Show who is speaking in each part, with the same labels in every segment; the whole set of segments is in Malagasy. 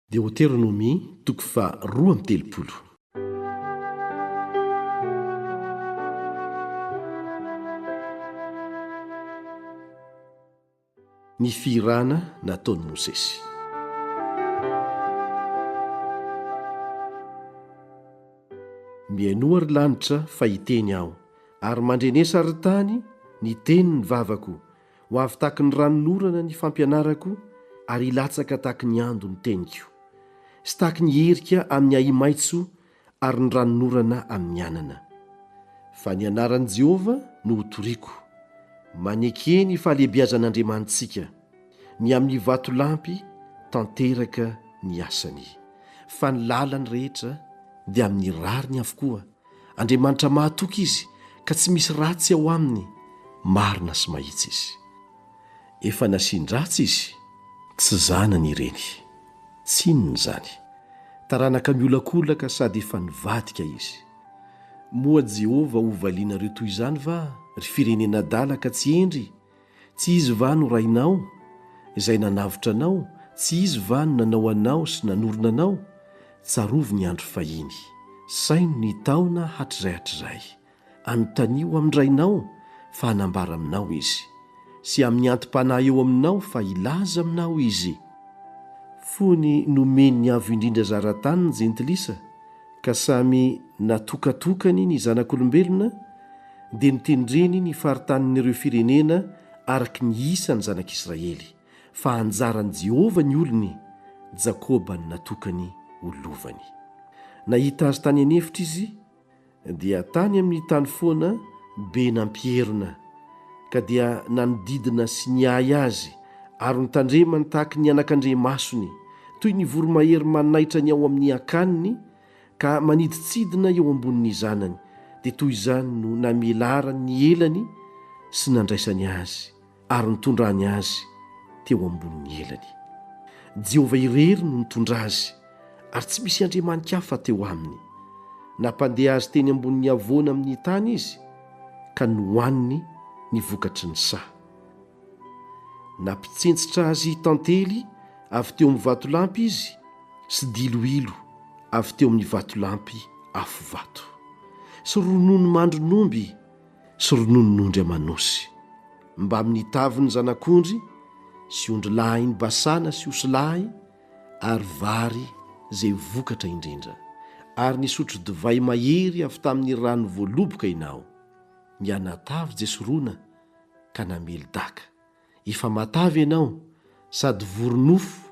Speaker 1: Deoteronomia, toko faha roa amby telopolo. Ny fihirana nataon'i Mosesy. Mihainoa, ry lanitra, fa hiteny Aho, ary mandrenesa, ry tany, ny tenin'ny vavako, Ho avy tahaky ny ranonorana ny fampianarako ary hilatsaka tahaky ny ando ny teniko. Sy tahaky ny herika amin' ny ahi-maitso ary ny ranonorana amin' ny anana. Fa ny anaran'i Jehovah no hotoriako. Maneke ny fahalehibiazan'Andriamanitsika. Ny amin'ny vatolampy tanteraka ny asany. Fa ny lalany rehetra dia amin'ny rariny avokoa. Andriamanitra mahatoky izy ka tsy misy ratsy ao aminy, marina sy mahitsy izy. Efa nasian-dratsy izy. Tsy zanany ireny. Tsininy izany. Taranaka miolakolaka sady efa nivadika izy. Moa Jehovah hovalianareo toy izany va, ry firenena adala ka tsy hendry? Tsy izy va no Rainao, Izay nanavotra anao? Tsy izy va no nanao anao sy nanorina anao? Tsarovy ny andro fahiny. Saino ny taona hatrizay hatrizay. Anontanio amin-dRainao fa hanambara aminao Izy, sy amin'ny anti-panahy eo aminao fa hilaza aminao Izy. Fony nomen'ny Avo Indrindra zara-tany ny jentilisa, ka samy natokatokany ny zanak'olombelona, dia notendreny ny faritanin'ireo firenena araka ny isan'ny zanak'Israely, fa anjaran'i Jehovah ny olony, Jakoba no natokany ho lovany. Nahita azy tany an'efitra izy, dia tany amin'ny tany foana be nampierona, ka dia nanodidina sy niahy azy, ary notandremany tahaka ny anakandriamasony, toy ny voromahery manaitra ny ao amin'ny akaniny, ka manidintsidina eo ambonin'ny zanany, dia toy izany no namelarany ny elany sy nandraisany azy ary nitondrany azy teo ambonin'ny elany. Jehovah irery no nitondra azy, ary tsy misy andriamani-kafa teo aminy. Nampandeha azy teny ambonin'ny havoana amin'ny tany izy, ka nohaniny ny vokatry ny saha. Nampitsentsitra azy tantely avy teo amin'ny vatolampy izy sy diloilo avy teo amin'ny vatolampy afo vato, sy ronono mandron'omby sy rononon'ondry aman'osy, mbamin'ny tavin'ny zanak'ondry sy ondry lahin'i Basana sy osy lahy, ary vary izay vokatra indrindra, ary nisotro divay mahery avy tamin'ny rano voaloboka ianao, ny anatavy Jesorona, ka namely daka. Efa matavy ianao sady vory nofo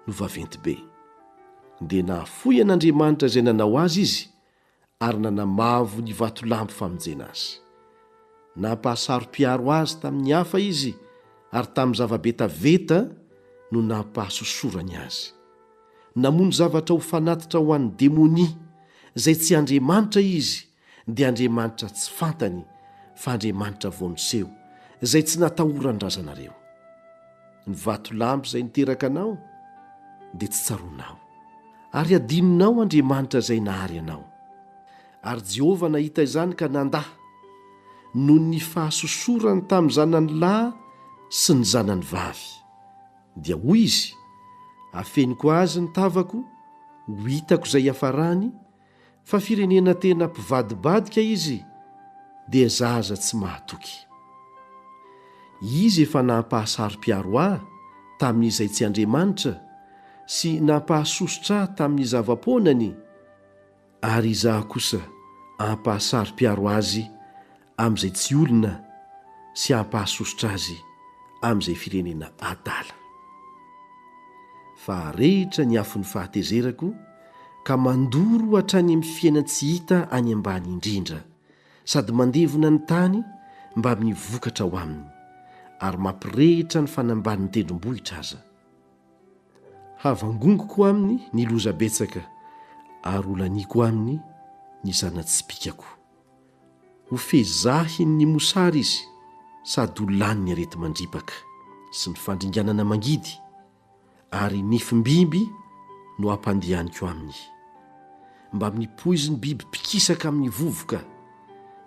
Speaker 1: no vaventy be. Dia nahafoy an'Andriamanitra izay nanao azy izy ary nanamavo ny vatolampy famonjena azy. Nampahasaro-piaro azy tamin'ny hafa izy ary tamin'ny zava-betaveta no nampahasosorany azy. Namono zavatra ho fanatitra ho an'ny demonia, izay tsy andriamanitra izy, dia andriamanitra tsy fantany fa andriamanitra vao niseho izay tsy natahoran'ny razanareo ny vatolampy izay niteraka anao dia tsy tsaronao ary adinonao andriamanitra izay nahary anao ary jehovah nahita izany ka nanda noho ny fahasosorany tamin'ny zanany lahy sy ny zanany vavy dia hoy izy afeniko azy ny tavako ho hitako izay hiafarany fa firenena tena mpivadibadika izy dia zaza tsy mahatoky. Izy efa nampahasaro-piaro ahy tamin'izay tsy Andriamanitra sy nampahasosotra ahy tamin'ny zava-poanany, ary izaho kosa ampahasaro-piaro azy amin'izay tsy olona sy hampahasosotra azy amin'izay firenena adala. Fa arehitra ny afon'ny fahatezerako ka mandoro hatrany amin'ny fiainan-tsy hita any ambany indrindra sady mandevona ny tany mbamin'ny vokatra ao aminy ary mampirehitra ny fanambanin'ny tendrombohitra aza. Havangongoko aminy ny loza betsaka ary holaniako aminy ny zana-tsipìkako. Ho fezahin' ny mosary izy sady ho lanin' ny areti-mandripaka sy ny fandringanana mangidy, ary nifim-biby no hampandehaniko aminy. Mbamin'ny poizin' biby mpikisaka amin' ny vovoka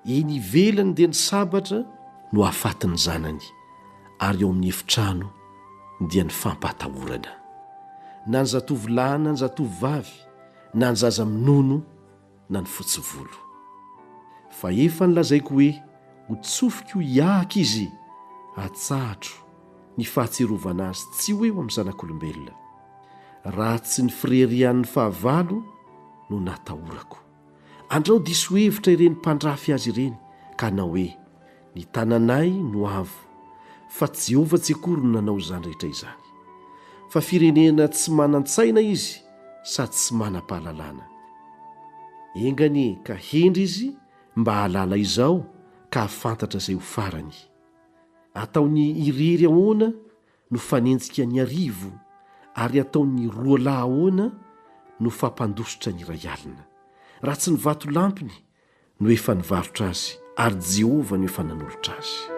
Speaker 1: eny ivelany dia ny sabatra no hahafaty ny zanany, ary ao amin' ny efitrano dia ny fampahatahorana. Na ny zatovolahy na ny zatovovavy, na ny zaza minono, na ny fotsy volo. Fa efa nolazaiko hoe ho tsofiko hiahaka izy, atsahatro ny fahatsiarovana azy tsy ho eo amin'ny zanak'olombelona, raha tsy ny firerian'ny fahavalo no natahorako. Andrao diso hevitra ireny mpandrafy azy ireny ka hanao hoe, Ny tananay no avo, fa tsy Jehovah tsy akory no nanao izany rehetra izany. Fa firenena tsy manan-tsaina izy sady tsy manam-pahalalana. Enga anie ka hendry izy mba hahalala izao ka hahafantatra izay ho farany. Ataony irery ahoana no fanenjika ny arivo, ary ataony roa lahy ahoana no fampandositra ny iray alina, raha tsy ny vatolampiny no efa nivarotra azy, ary Jehovah no efa nanolotra azy.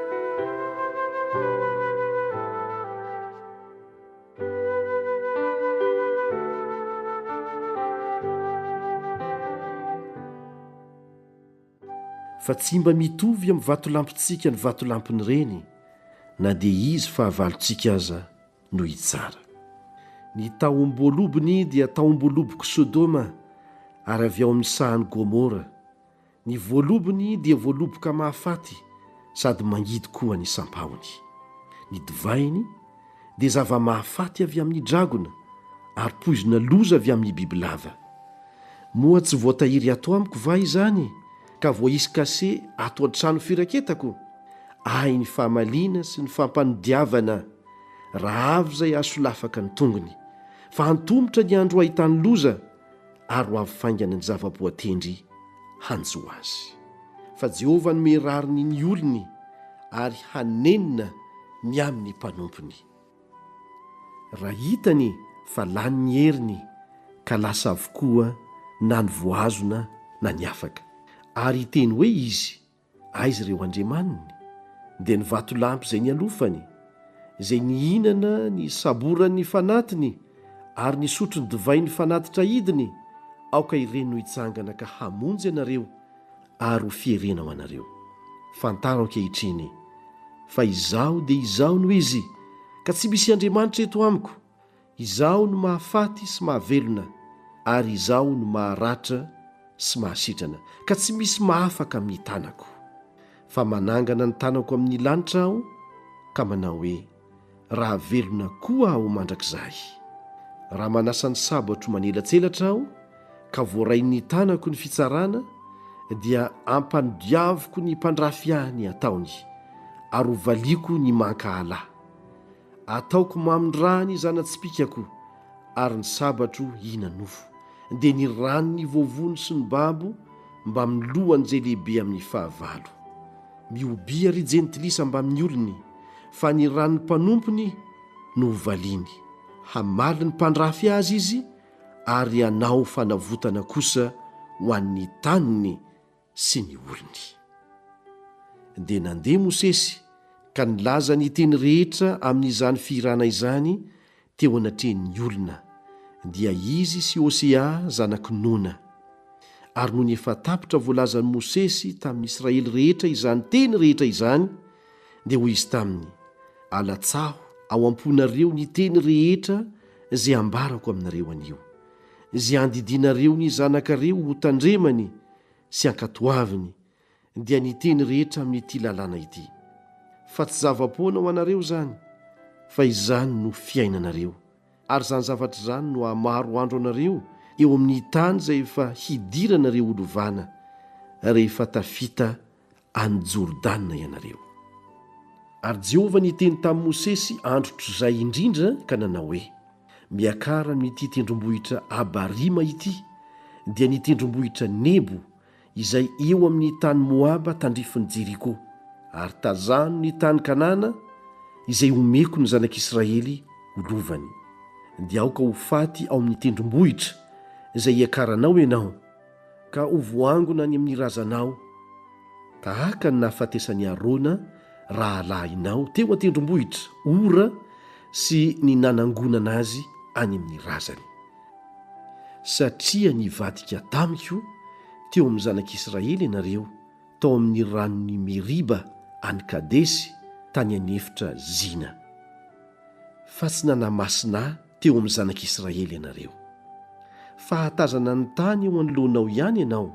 Speaker 1: fa tsy mba mitovy amin'ny vatolampintsika ny vatolampin'ireny na dia izy fahavalontsika aza no hitsara. Ny tahom-boalobony dia tahom-boalobok'i Sodoma, ary avy ao amin'ny sahan'i Gomora. Ny voalobony dia voaloboka mahafaty sady mangidy koa ny sampahony. Ny divainy dia zava-mahafaty avy amin'ny dragona, ary poizina loza avy amin'ny bibilava. Moa tsy voatahiry ato amiko va izany, ka voaisy kase ato an-trano firaketako? Ahy ny famaliana sy ny fampanodiavana. raha avy izay hahasolafaka ny tongony, fa antomotra ny andro hahitany loza, ary ho avy faingana ny zava-boatendry hanjo azy. Fa Jehovah no mirariny ny olony, ary hanenina ny amin'ny mpanompony. Raha hitany fa lany ny heriny, ka lasa avokoa na ny voahazona na ny afaka. Ary hiteny hoe izy, Aiza ireo andriamaniny? Dia ny vatolampy izay nialofany, izay nihinana ny saboran'ny fanatiny ary nisotro ny divain'ny fanatitra idiny, aoka ireny no hitsangana ka hamonjy anareo ary ho fierena ho anareo. Fantaro ankehitriny fa Izaho dia Izaho no Izy, ka tsy misy andriamanitra eto amiko. Izaho no mahafaty sy mahavelona, ary Izaho no maharatra sy mahasitrana, ka tsy misy mahafaka amin'ny tanako. Fa manangana ny tanako amin'ny lanitra Aho, ka manao hoe, Raha velona koa Aho mandrakizay! Raha manasa ny sabotro manelatselatra Aho, ka voarain'ny tanako ny fitsarana, dia ampanodiaviko ny mpandrafy Ahy ny ataony, ary hovaliako ny mankahala. Ataoko mamin raha ny zana-tsipikako ary ny sabatro hihina nofo, dia ny ran ny voavono sy ny babo mbamin ny lohan izay lehibe amin ny fahavalo. Mihobia ry jentilisa mbamin ny olony, fa ny ran ny mpanompony no hovaliany. Hamaly ny mpandrafy azy izy ary hanao fanavotana kosa ho an ny taniny, sy ny orony. Dia nandeha Mosesy ka nilaza ny teny rehetra amin'izany fihirana izany teo anatrehan'ny olona, dia izy sy Hosea zanak'i Nona. Ary nony efa tapitra voalazan'i Mosesy tamin'ny Israely rehetra izany teny rehetra izany, dia hoy izy taminy, Alatsaho ao am-ponareo ny teny rehetra izay ambarako aminareo anio, izay andidianareo ny zanakareo hotandremany, sy ankatoaviny dia ny teny rehetra amin'ity lalàna ity, fa tsy zava-poana ho anareo izany, fa izany no fiainanareo, ary izany zavatra izany no hahamaro andro anareo eo amin'ny tany izay efa hidiranareo ho lovana rehefa tafita any Jordana ianareo. Ary Jehovah niteny tamin'i Mosesy andro trizay indrindra ka nanao hoe, Miakara amin'ity tendrombohitra Abarima ity, dia ny tendrombohitra Nebo, izay eo amin'ny tany Moaba tandrifin'i Jeriko, ary tazano ny tany Kanana izay homeko ny zanak'Israely ho lovany. Dia aoka ho faty ao amin'ny tendrombohitra izay iakaranao ianao, ka ho voangona any amin'ny razanao, tahaka ny nahafatesan'i Arona rahalahinao teo an-tendrombohitra Hora sy ny nanangonana azy any amin'ny razany. Satria nivadika tamiko teo amin'ny zanak'Israely ianareo tao amin'ny ranon'i Meriba any Kadesy tany an'efitra Zina, fa tsy nanamasina ahy, teo amin'ny zanak'Israely ianareo. Fahatazana ny tany eo anoloanao ihany ianao,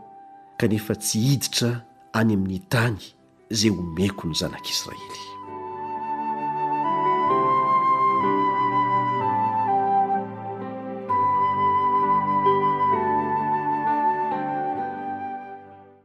Speaker 1: kanefa tsy hiditra any amin'ny tany izay homeko ny zanak'Israely.